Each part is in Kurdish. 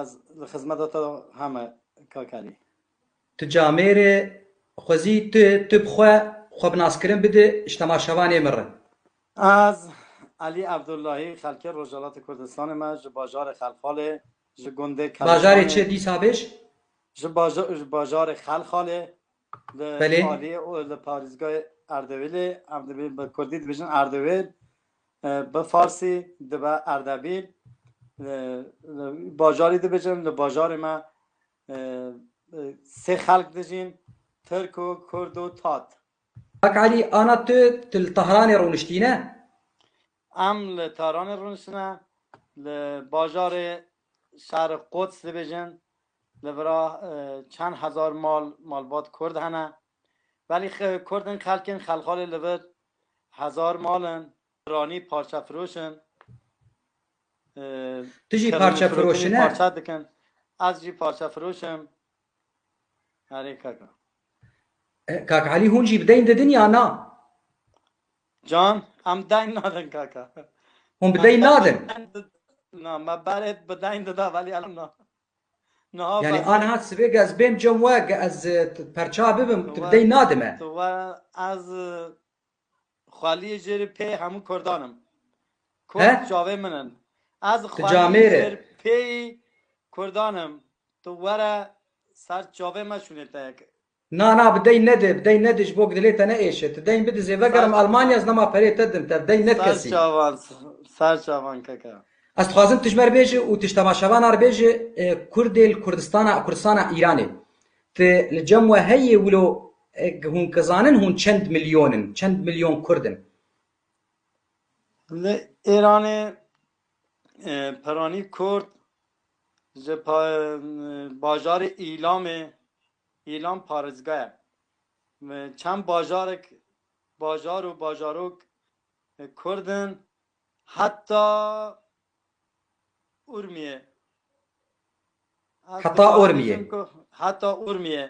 Ez li xizmeta te heme Kakarî. Tu camêr î, xwezî tu tu bi xwe xwe bi naskirin bidi ji tema şevanê min re. Ez Elî Evdullahî, xelkê Rojhilatê Kurdistanê me ji bajarê Xelxalê, ji gundê Keleşanê. Bajarê çi dîsa bêj? Ji bajarê Xelxalê, Belê. Aliyê û li parîzgayê Erdewîlê em dibîn bi kurdî dibêjin Erdewîl, bi farsî dibe Erdebîl. Li bajarî dibêjin, li bajarê me sê xelk dijîn, tirk û kurd û tat. Kak Elî, ana tu, tu li Tehranê rûniştî ne? Em li Tehranê rûniştine, li bajarê şerê Quds dibêjin, li vira çend hezar mal malbat Kurd hene. Belî Kurd in xelk in, xelxalê li vir hezar mal in, piranî parçefiroş in, Tu jî parçefiroşine? Parçe dikin. Ez jî parçefiroş im. Erê kaka. Kak Elî hûn jî bi deyn didin ya na? Can, em deng nadin kaka. Hûn bi deng nadin? Na, me berê bi deng dida velî elo na. Niha Yani bes. aniha sibê ge ez bêm cem we ge ez e, t- perça bibim tu bi deng nadime. Tu we ez e, xweliyê jê rê pê hemû kurdan im. He? Kurd çavê min in. Ez Tu xweliyê camê rê. jê rê pêyî kurdan im. Tu were ser çavê me şûnê te yek. Na na bi dey nedi, bi dey nedi ji bo ku dilê te neêşe. Tu deyn bidi zêvegerim Almanya ez nema perê te din te, bi dey ned kesî. Serçavan, serçavan kaka. Ez dixwazim tu ji me re bêje û tu ji temaşevana re bêje Kurdê li Kurdistana, Kurdistana Îranê. Tu li cem we heye wilo hûn kizanin hûn çend milyon in, çend milyon Kurd in? Li Îranê peranî Kurd ji bajarê Îlamê, Îlan parêzga ye. Çend bajarek, bajar û bajarok kurd in, heta Urmiyê. Heta Urmiyê. Heta Urmiyê.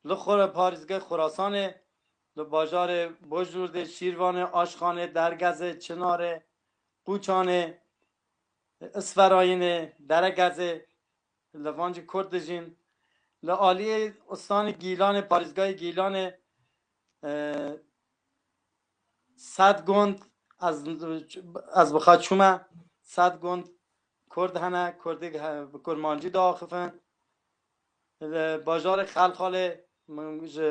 Li xwe re parêzgeh Xurasanê, li bajarê Bojlûrdê, Şîrvanê, Aşxanê, Dergezê, Çinarê, Qûçanê, Isferayînê, Deregezê, Di Levancê Kurd dijîn. Li aliyê Ustanê Gîlanê, Parêzgahê Gîlanê sed gund ez ez bixa çûme. Sed gund Kurd hene, Kurdê bi Kurmancî diaxifin. Li bajarê Xelxalê min ji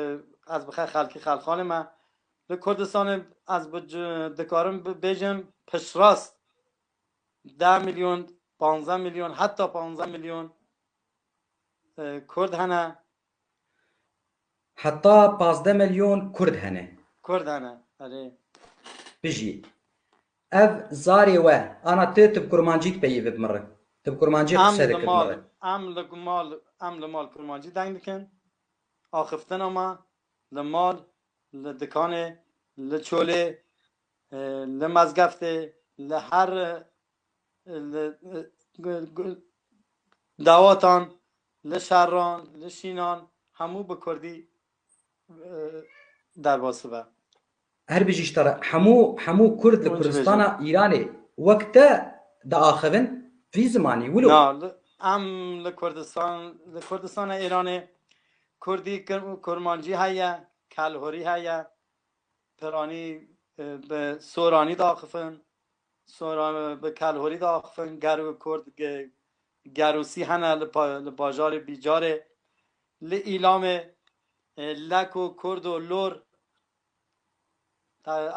ez bixe xelkê Xelxalê me. Li Kurdistanê ez bi dikarim bêjim piştrast Deh milyon, panzdeh milyon, heta panzdeh milyon Kurd hene. Heta panzdeh milyon Kurd hene. Kurd hene, erê. Bijî. Ev zarê we, ana tu ti bi kurmancî dipeyivî bi min re? Tu bi kurmancî qise dikir bi min re? Em li mal, em li mal kurmancî deng dikin. Axiftina me li mal, li dikanê, li çolê, Li Mezgeftê li her dawatan, li şeran, li şînan hemû bi kurdî derbasî be. Her bijî ji te re. Hemû hemû kurd li Kurdistana Îranê wek te diaxivin vî zimanî wilo. Na, em li Kurdistan li Kurdistana Îranê kurdî, kurmancî heye, kelhorî heye, Peranî bi soranî daxifin, soran bi kelhorî daxifin, ger û kurd gerûsî hene li bajarê Bîcarê. Li Îlamê lek û kurd û lor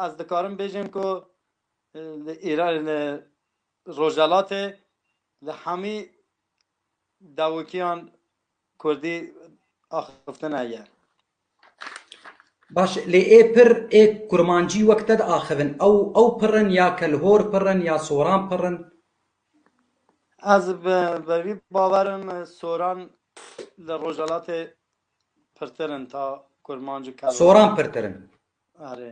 ez dikarim bêjim ku li Rojhelatê li hemî dewikiyan kurdî axiftine ye. Baş e, lê ê pir ê kurmancî wek te diaxivin, ew ew pir in ya kelhor pir in ya soran pir in? Ez bi vî bawer im soran li Rojhelatê pirtir in ta kurmanc û kelhor. Soran pirtir in. Erê.